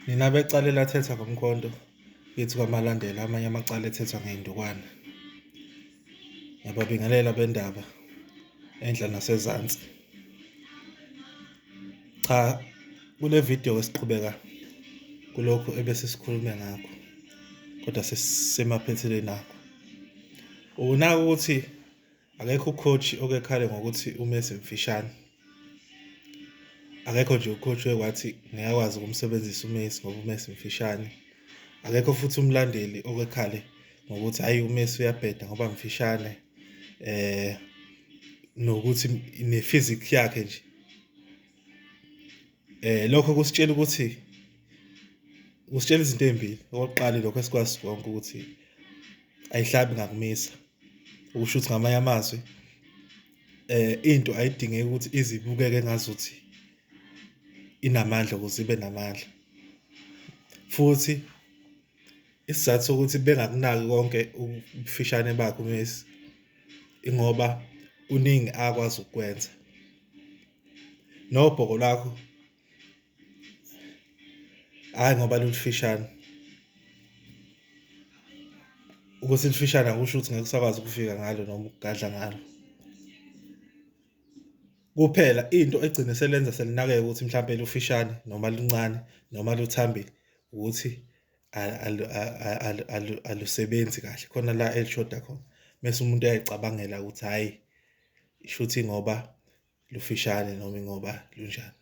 Nina becala elathetha ngomkhonto kithi kwaMalandela amanye amacala ethethwa ngey'ndukwana. Ngiyababingelela bendaba enhla nasezansi. Cha kule video esiqhubeka kulokhu ebesisikhulume ngakho kodwa sesemaphethelweni akho. Unaka ukuthi Akekho ucoach okekhale ngokuthi uMessi mfishane. Akekho nje ucoach wekwathi ngeke akwazi ukumsebenzisa uMessi ngoba uMessi mfishane. Akekho futhi umlandeli okekhale ngokuthi hayi uMessi uyabheda ngoba mfishane. Eh nokuthi ne-physics yakhe nje Eh lokho kusitshela ukuthi kusitshela izinto ezimbili. Okokuqala lokho esikwazi konke ukuthi ayihlabi ngakumisa. Ukusho ukuthi ngamanye amazwi eh into ayidingeki ukuthi izibukeke ngazuthi inamandla ukuze ibe namandla. Futhi isizathu sokuthi bengakunaki konke ubufishane bakhe uMessi ingoba kuningi akwazi ukukwenza. nobhoko lwakho hayi ngoba lulifishane ukuthi lifishane akusho ukuthi ngeke usakwazi ukufika ngalo noma ukugadla ngalo kuphela into egcine selenza selinakeke ukuthi mhlawumbe lufishane noma luncane noma luthambile ukuthi alusebenzi kahle khona la elishoda khona mese umuntu uyayicabangela ukuthi hhayi isho ukuthi ngoba lufishane noma ingoba lunjani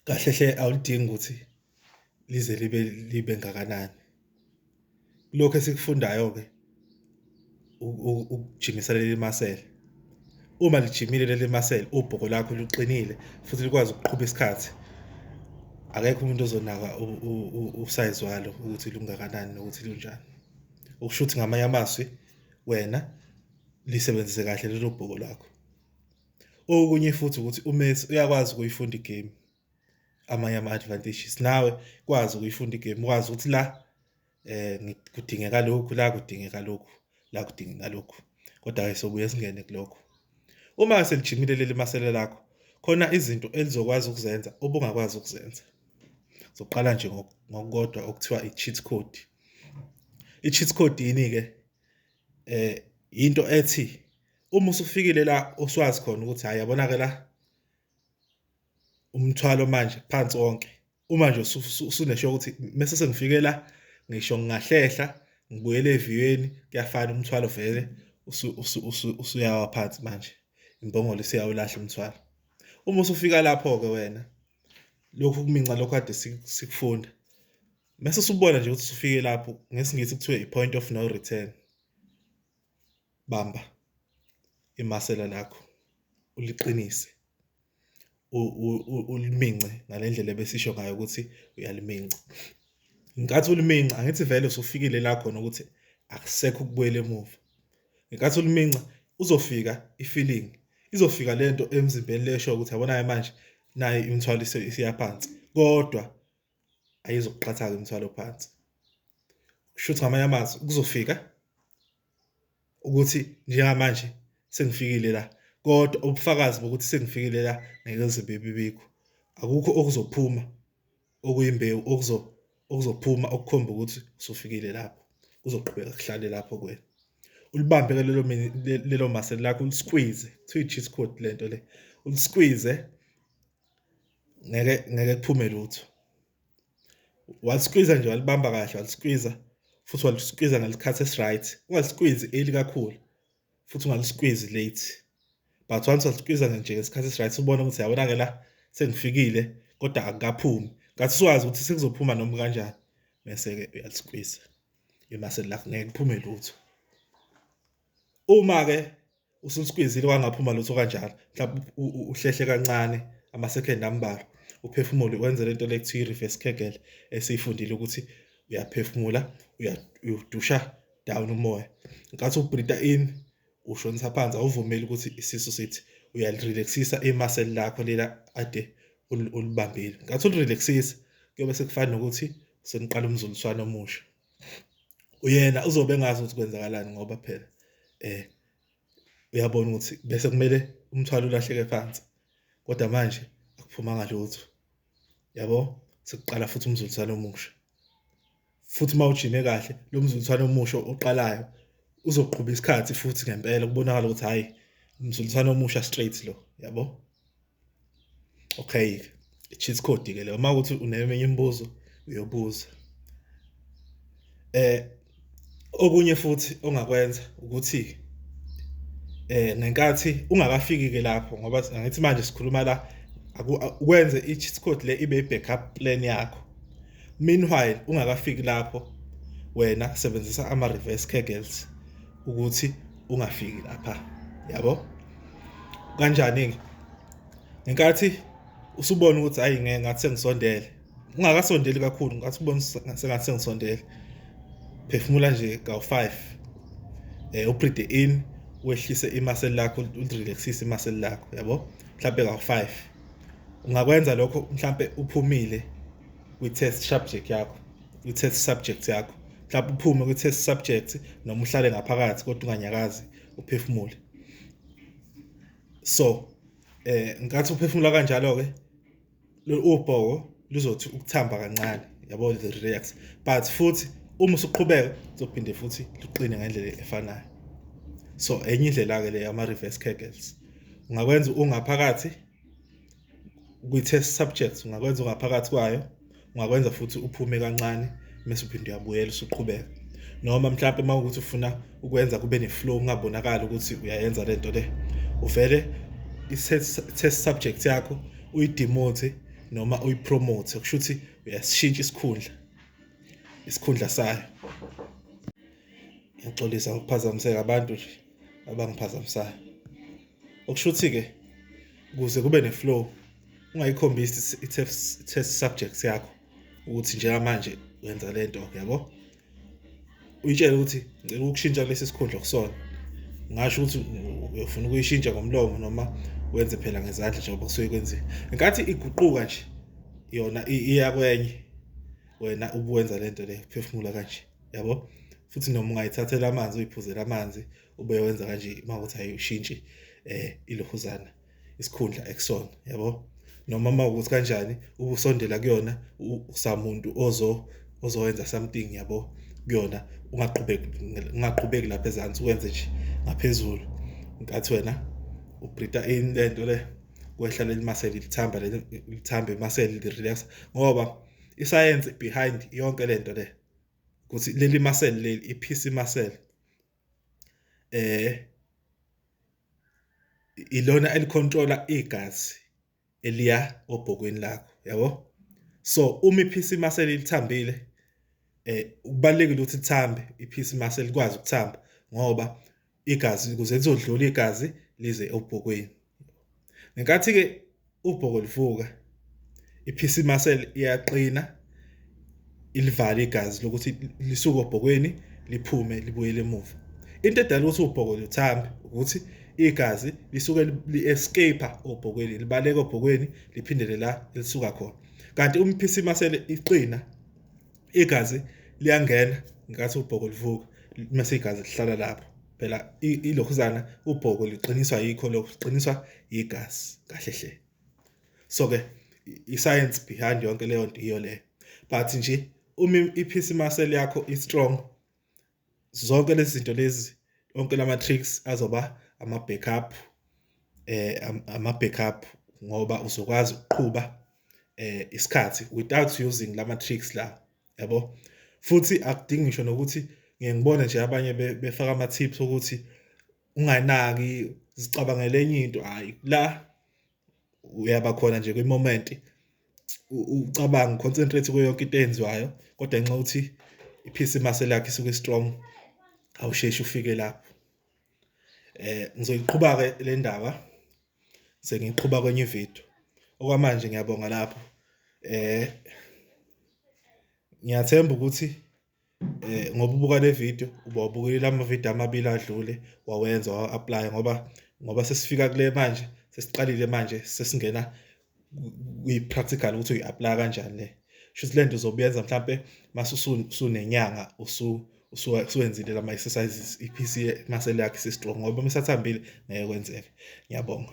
kahle hle awulidingi ukuthi lize libe libe ngakanani lokho esikufundayo ke ukujimisa leli masela uma lijimile leli masela ubhoko lakho luqinile futhi likwazi ukuqhuba isikhathi akekho umuntu ozonaka usayizi walo ukuthi lungakanani nokuthi lunjani okusho ukuthi ngamanye amazwi wena lisebenzise kahle lelo bhoko lakho okunye futhi ukuthi uMessi uyakwazi ukuyifunda igame amanye ama-advantages nawe kwazi ukuyifunda igame ukwazi ukuthi la um kudingeka lokhu la kudingeka lokhu la kudingeka lokhu kodwa-ke sobuye singene kulokho uma selijimile leli masele lakho khona izinto elizokwazi ukuzenza obungakwazi ukuzenza soqala nje ngokukodwa okuthiwa i-cheat code i-cheat code yini ke eh into ethi uma usufikile la oswazi khona ukuthi hayi yabona ke la umthwalo manje phansi wonke uma nje usunesho ukuthi mese sengifike la ngisho ngingahlehla ngibuyele eviyweni kuyafana umthwalo vele usuyawa phansi manje imbongolo isiyawulahla umthwalo uma usufika lapho ke wena lokhu kuminca lokho kade sikufunda Mese usubona nje ukuthi usufike lapho ngesingisi kuthiwa i-point of no return. Bamba imasela lakho uliqinise ulimince ngalendlela ebesisho ngayo ukuthi uyaliminca. Ngenkathi uliminca angithi vele usufikile la khona ukuthi akusekho ukubuyela emuva. Ngenkathi uliminca uzofika i-feeling izofika lento emzimbeni lesho ukuthi yabonayo manje nayi imthwalo isiyaphansi kodwa ayizukuqhatha-ke umthwalo phansi kusho ukuthi ngamanye amazwi kuzofika ukuthi njengamanje sengifikile la kodwa ubufakazi bokuthi sengifikile la ngeke zibe bibikho akukho okuzophuma okuyimbewu okuzo okuzophuma okukhomba ukuthi usufikile lapho kuzoqhubeka kuhlale lapho kwena ulibambe ke lelo lelo muscle lakho ulisqueeze kuthiwa i-cheat code lento le ulisqueeze ngeke ngeke kuphume lutho waliskwiza nje walibamba kahle waliskwiza futhi waliskwiza ngesikhathi esi-right ungaliskwizi early kakhulu futhi ungaliskwizi late but once waliskwiza nje ngesikhathi esi-right ubona ukuthi yabona-ke la sengifikile kodwa akukaphumi ngathi siwazi ukuthi sekuzophuma noma kanjani bese-ke uyaliskwiza imaseli lakho ngeke kuphume lutho uma-ke usuliskwizile kwangaphuma lutho kanjalo mhlawumbe uhlehle kancane amasekhend ambalwa uphefumule wenze lento le kuthiwa i-reverse kegel esiyifundile ukuthi uyaphefumula uyadusha down umoya nkathi ubreathe in ushonisa phansi awuvumeli ukuthi isisu sithi uyalirelaxisa imaseli lakho lela ade ulibambile nkathi ulirelaxisa kuyobe sekufana nokuthi seniqala umzuliswano omusha uyena uzobe engazi ukuthi kwenzakalani ngoba phela eh uyabona ukuthi bese kumele umthwalo ulahleke phansi kodwa manje akuphumanga lutho yabo sekuqala futhi umzuliswano omusha futhi uma ujime kahle lo mzuliswano omusha oqalayo uzoqhuba isikhathi futhi ngempela kubonakala ukuthi hhayi umzuliswano omusha straight lo yabo okay cheat code ke leyo uma ukuthi uneminye imibuzo uyobuza eh okunye futhi ongakwenza ukuthi eh ngenkathi ungakafiki ke lapho ngoba angithi manje sikhuluma la ukwenze i-cheat code le ibe i-backup plan yakho Meanwhile ungakafiki lapho wena sebenzisa ama reverse kegels ukuthi ungafiki lapha. Yabo? Kanjani ke? Ngenkathi usubona ukuthi hayi ngeke ngathi sengisondele. Ungakasondeli kakhulu ngathi ubona sengathi sengisondele. Phefumula nje ka 5. Eh upride in wehlise imaseli lakho ulirelaxise imaseli lakho yabo? Mhlambe ka 5. ungakwenza lokho mhlampe uphumile kwi-test subject yakho kwi-test subject yakho mhlawumbe uphume kwi-test subject noma uhlale ngaphakathi kodwa unganyakazi uphefumule so eh nkathi uphefumula kanjalo ke ubhoko luzothi ukuthamba kancane yabo the relax but futhi uma usuqhubeka uzophinde futhi luqine ngendlela efanayo so enye indlela ke le ama reverse kegels ungakwenza ungaphakathi kwi-test subjects ungakwenza ungaphakathi kwayo ungakwenza futhi uphume kancane mese uphinde uyabuyela usuqhubeka noma mhlawumbe uma ukuthi ufuna ukwenza kube ne-flow ungabonakali ukuthi uyayenza le nto le uvele i-test subject yakho uyidemote noma uyipromote kusho ukuthi uyasishintsha isikhundla isikhundla sayo ngiyaxolisa ngokuphazamiseka abantu nje abangiphazamisayo okusho ukuthi-ke ukuze kube ne-flow ungayikhombisi i-test subject yakho ukuthi njengamanje wenza le nto yabo uyitshele ukuthi ngicela ukushintsha kulesi sikhundla kusona ngasho ukuthi uyofuna ukuyishintsha ngomlomo noma wenze phela ngezandla njengoba kusuke kwenziwe ngenkathi iguquka nje yona iya kwenye wena ubuwenza le nto le phefumula kanje yabo futhi noma ungayithathela amanzi uyiphuzela amanzi ube wenza kanje uma ukuthi ayishintshi eh ilohuzana isikhundla ekusona yabo noma uma ukuthi kanjani ubusondela kuyona usamuntu ozo ozowenza something yabo kuyona ungaqhubeki ungaqhubeki lapha ezansi wenze nje ngaphezulu nkathi wena ubreatha in lento le kwehla leli muscle lithamba leli lithamba imuscle li relax ngoba isayense behind yonke lento le ukuthi leli muscle leli iphisi muscle eh ilona elicontrola igazi eliya obhokweni lakho yabo so uma iphisi muscle lithambile eh kubalekile ukuthi lithambe iphisi muscle likwazi ukuthamba ngoba igazi ukuze lizodlula igazi lize obhokweni ngenkathi ke ubhoko livuka iphisi muscle iyaqina ilivale igazi lokuthi lisuke obhokweni liphume libuyele emuva into edala ukuthi ubhoko luthambe ukuthi igazi lisuke li-escape obhokweni libaleka obhokweni liphindele la elisuka khona kanti umphisi muscle iqina igazi liyangena ngathi ubhoko livuka mase igazi lihlala lapho phela ilokhuzana ubhoko liqiniswa yikho lokuqiniswa yigazi kahle hle so ke i-science behind yonke leyo nto iyo le but nje uma iphisi muscle yakho i-strong zonke lezi zinto lezi onke lama tricks azoba ama backup eh ama backup ngoba uzokwazi ukuqhuba eh isikhathi without using lama tricks la yabo futhi akudingi ngisho nokuthi ngeke ngibone nje abanye befaka ama tips ukuthi unganaki zicabangele enye into hayi la uyaba khona nje kwi-moment ucabanga uconcentrate kuyo yonke into eyenziwayo kodwa nxa uthi iphisi imase lakhe isuke strong awusheshi ufike lapho eh ngizoyiqhuba ke le ndaba sengiqhuba kwenye ivideo okwamanje ngiyabonga lapho eh ngiyathemba ukuthi eh ngoba ubuka le video uba ubukile lama video amabili adlule wawenza wa apply ngoba ngoba sesifika kule manje sesiqalile manje sesingena kwi practical ukuthi uyi apply kanjani le shuthi lento uzobuyenza mhlambe masusunenyanga usu usuwenzile lama exercises iPC masele yakhe sistrong ngoba mesathambile ngeke kwenzeke ngiyabonga